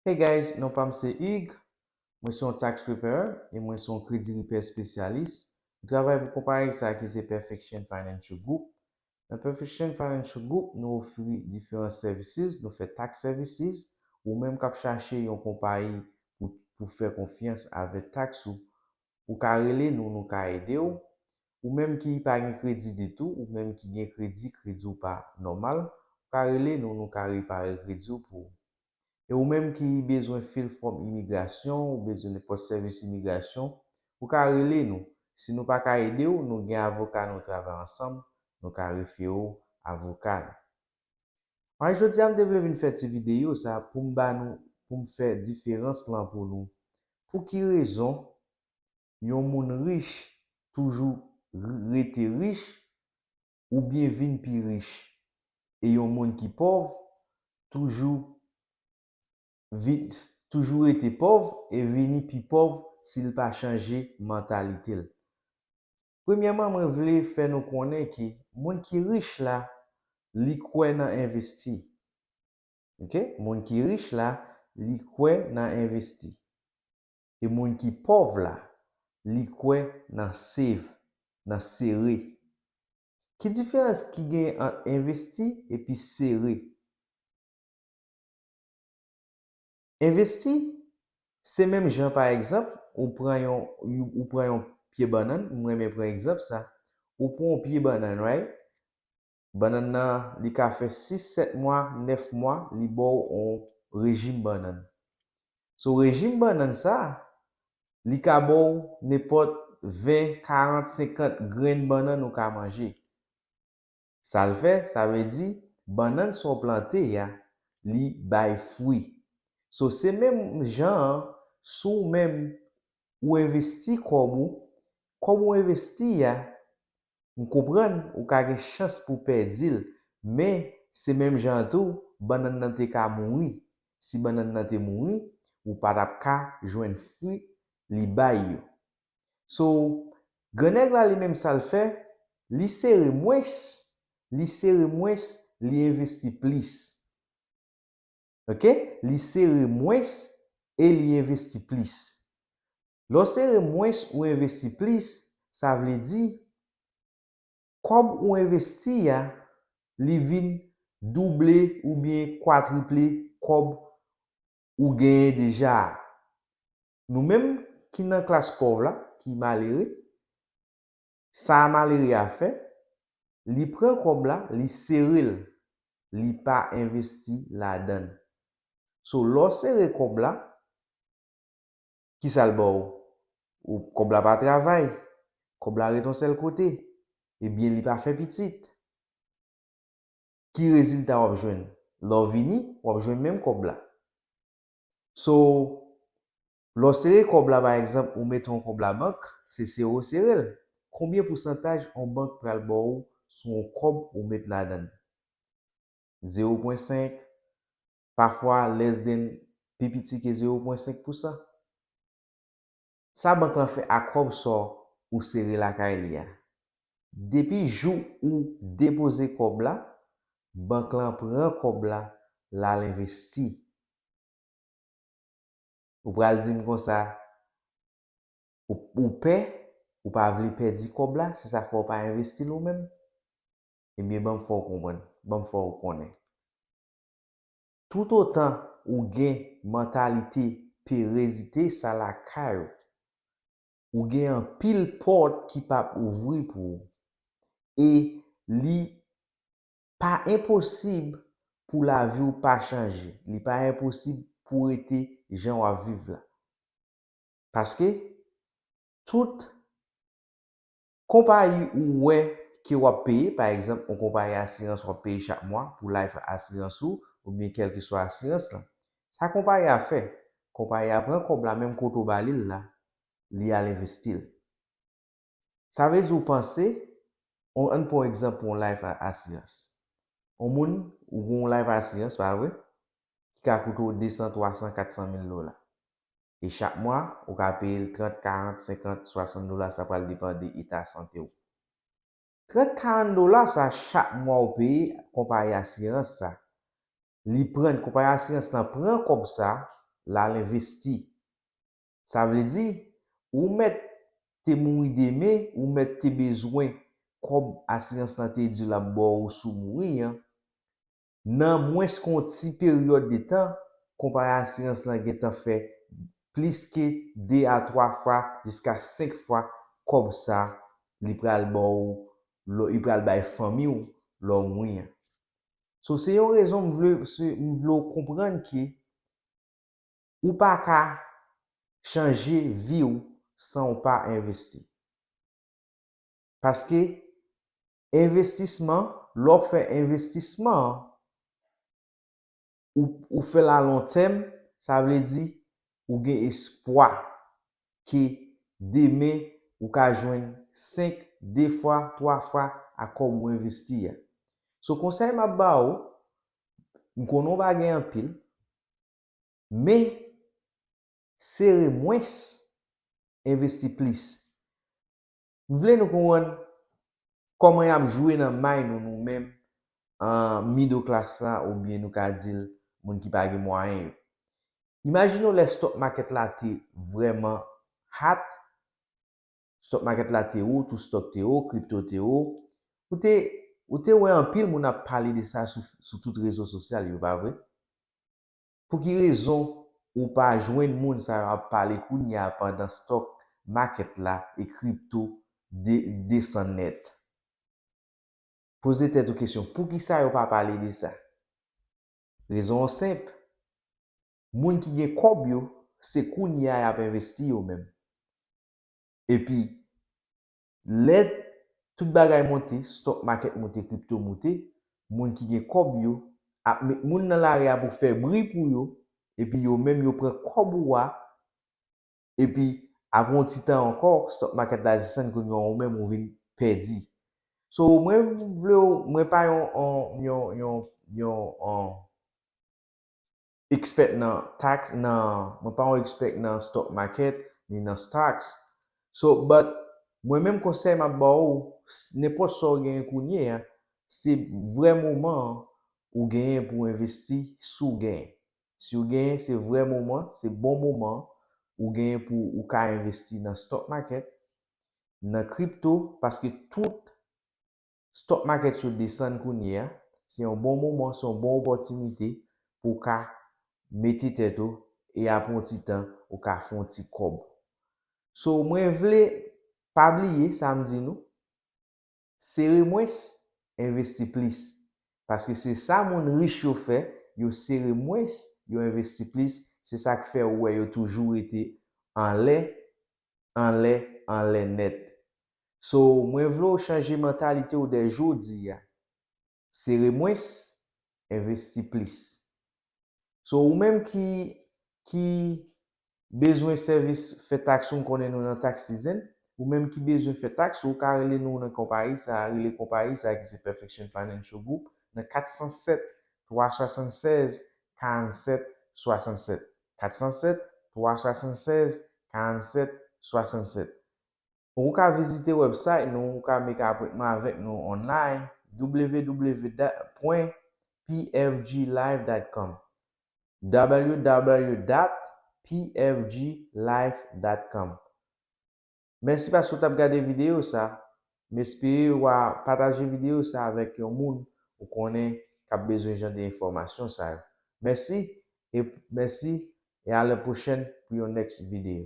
Hey guys non pam se Hugues, mwen se yon tax preparer e mwen se yon kredi ripè espesyalis, m travay pou konpayi sa ki se Perfection Financial Group, nan Perfection Financial Group nou ofri diferan services nou fè tax services, ou menm kap chache yon konpayi pou pou fè konfyans avè tax ou Ou ka rele nou nou ka ede w. Ou menm ki pa gen kredi ditou ou menm ki gen kredi kredi w pa nòmal ou ka rele nou nou ka repare kredi w pou ou. E ou menm ki bezwen fil fòm imigrasyon ou bezwen nenpòt sèvis imigrasyon ou ka rele nou si nou pa ka ede w nou gen avoka nou travay ansanm nou ka refere w avoka nou. Mai jodia m te vle vin fè ti video sa poum ba nou poum fè diferans lan pou nou pou ki rezon yon moun rich toujou rete rich ou byen vin pi rich e yon moun ki pòv toujou vin toujou rete pòv e vini pi pòv sil pa chanje mantalitel. Premyèman mwen vle fè nou konnen ke moun ki rich la li kwè nan envesti ok moun ki rich la li kwè nan envesti e moun ki pòv la li kwè nan save nan sere ki diferans ki genyen ant envesti epi sere? Envesti se menm jan pa egzanp ou pran yon ou pran yon pye bannann, m renmen pran egzanp sa, ou pran yon pye bannann right, bannann nan li ka fè 6 7 mwa 9 mwa li ba w yon rejim bannann. So rejim bannann sa li ka ba w nenpòt 20 40 50 grenn bannann ou ka manje. Sa l fè, sa vle di, bannann sa w plante a, li bay fwi. So, se menm jan an, si w menm, ou envesti kòb ou, kòb ou envesti a, m konprann ou ka gen chans pou w pèdi l, men, se menm jan an tou, bannann nan te ka mouri. Si bannann nan te mouri, ou pa t ap ka jwenn fwi li bay yo. So gran nèg la li menm sal fè li sere mwens li sere mwens li envesti plis ok li sere mwens e li envesti plis lè w sere mwens ou envesti plis sa vle di kòb ou envesti a li vin double oubyen kwatriple kòb ou genyen deja a Nou menm ki nan klas pòv la, ki malere, sa a malere a fè, li pran kòb la, li sere l, li pa envesti ladan l. So lè w sere kòb la, ki sa l ba w? Kòb la pa travay, kòb la ret yon sèl kote, ebyen li pa fè pitit. Ki rezilta w ap jwenn? Lè w vini, w ap jwenn menm kòb la. So lè w sere kòb la pa egzanp ou mete yon kòb la bank se sere w sere l konbyen pousantaj yon bank pral ba w sou yon kòb ou met ladan l zewo pwen senk pafwa lès den pi piti ke zewo pwen senk pousan. Sa bank lan fè a kòb sò ou sere lakay li a? Depi jou ou depoze kòb la, bank lan pran kòb la lal envesti. Ou pral di m konsa ou pè, ou pa vle pèdi kòb la, se sa k fè ou pa envesti l ou menm? Ebyen ban m fè w konprann, ban m fè w konnen. Toutotan ou gen mantalite perezite sa lakay ou, ou gen anpil pòt ki p ap ouvri pou ou. E li pa enposib pou lavi ou pa chanje, li pa enposib pou rete jan w ap viv la. Paske, tout. Konpayi ou wè ke w ap peye, pa egzanp yon konpayi asirans w ap peye chak mwa pou life asirans ou oubyen kèlkeswa asirans lan. Sa konpayi a fè, konpayi a pran kòb la menm kote w ba li l la, li al envesti l. Sa vle di w panse, on ann pran yon egzanp pou yon life asirans. On moun, ou gen yon life asirans, pa vre, ki ka koute w 200, 300, 400 mil dola. e chak mwa, ou ka peye l 30, 40, 50, 60 dola sa pral depan de eta sante w. 30, 40 dola sa chak mwa ou peye konpayi asirans sa, li pran, konpayi asirans lan pran kòb sa, l al envesti. Sa vle di, ou mèt te mouri demen, ou mèt te bezwen kòb asirans lan te di l ap ba w sou w mouri an, Nan mwens ke yon ti peryòd de tan, konpayi asirans lan gentan fè plis ke 2 a 3 fwa jiska 5 fwa kòb sa li pral ba w lè li pral bay fanmi w lè w mouri an. So se yon rezon m vle m vle w konprann ke ou pa ka chanje vi w san w pa envesti. Paske Envestisman, lè w fè envestisman an, ou fè l a lon tèm, sa vle di ou gen espwa ke demen ou ka jwenn 5, 2 fwa, 3 fwa a kòb ou envesti a. So konsèy m ap ba ou, m konnen w pa gen anpil, men sere mwens, envesti plis. M vle nou konprann kòman y ap jwe nan may nou nou menm middle class la oubyen nou ka di l moun ki pa gen mwayen yo. Imajine w lè stock market la te vrèman hot, stock market la te wo, tout stock te wo, crypto te wo, ou te ou te wè anpil moun ap pale de sa sou tout rezo sosyal yo pa vre? Pou ki rezon ou pa jwenn moun sa yo ap pale kounye a pandan stock market la e crypto desann nèt? Poze tèt ou kesyon poukisa yo pa pale de sa? Rezon an senp, moun ki gen kòb yo se kounye a yap envesti yo menm. Epi Lè tout bagay monte, stock market monte crypto moute, moun ki gen kòb yo ap met moun nan lari a pou fè bri pou yo epi yo menm yo pran kòb ou a epi aprè yon ti tan ankò stock market la desann kounye a ou menm ou vin pèdi. So mwen vle w mwen pa yon yon yon yon yon expert nan tax nan mwen pa yon expect nan stock market ni nan stocks so but mwen menm konsèy map ba ou nenpòt sa ou genyen kounye a se vrè moman an ou genyen pou ou envesti si w genyen si w genyen se vrè moman se bon moman ou genyen pou ou ka envesti nan stock market nan crypto paske tout Stock market yo desann kounye a, se yon bon moman, se yon bon opòtinite pou w ka mete tèt ou e apre yon ti tan ou ka fè yon ti kòb. So mwen vle pa bliye sa m di nou, sere mwens, envesti plis. Paske se sa moun rich yo fè, yo sere mwens, yo envesti plis, se sa k fè ou wè yo toujou rete anlè, anlè, anlè nèt. So mwen vle w chanje mantalite w dè jodi a. Sere mwens, envesti plis. So ou menm ki ki bezwen sèvis fè taks ou m konnen nou nan tax season, ou menm ki bezwen fè taks ou ka rele nou nan konpayi sa a, rele konpayi sa a ki se Perfection Financial Group nan 407 376 47 67, 407 376 47 67. Pou ou ka vizite wèbsayt nou ou ka make apwentman avèk nou online www.pfglife.com www.pfglife.com Mèsi paske ou tap gade videyo sa m espere wa pataje videyo sa avèk yon moun ou konnen kap bezwen jan de enfòmasyon sa yo mèsi e mèsi e alèpwochèn pou yon next video.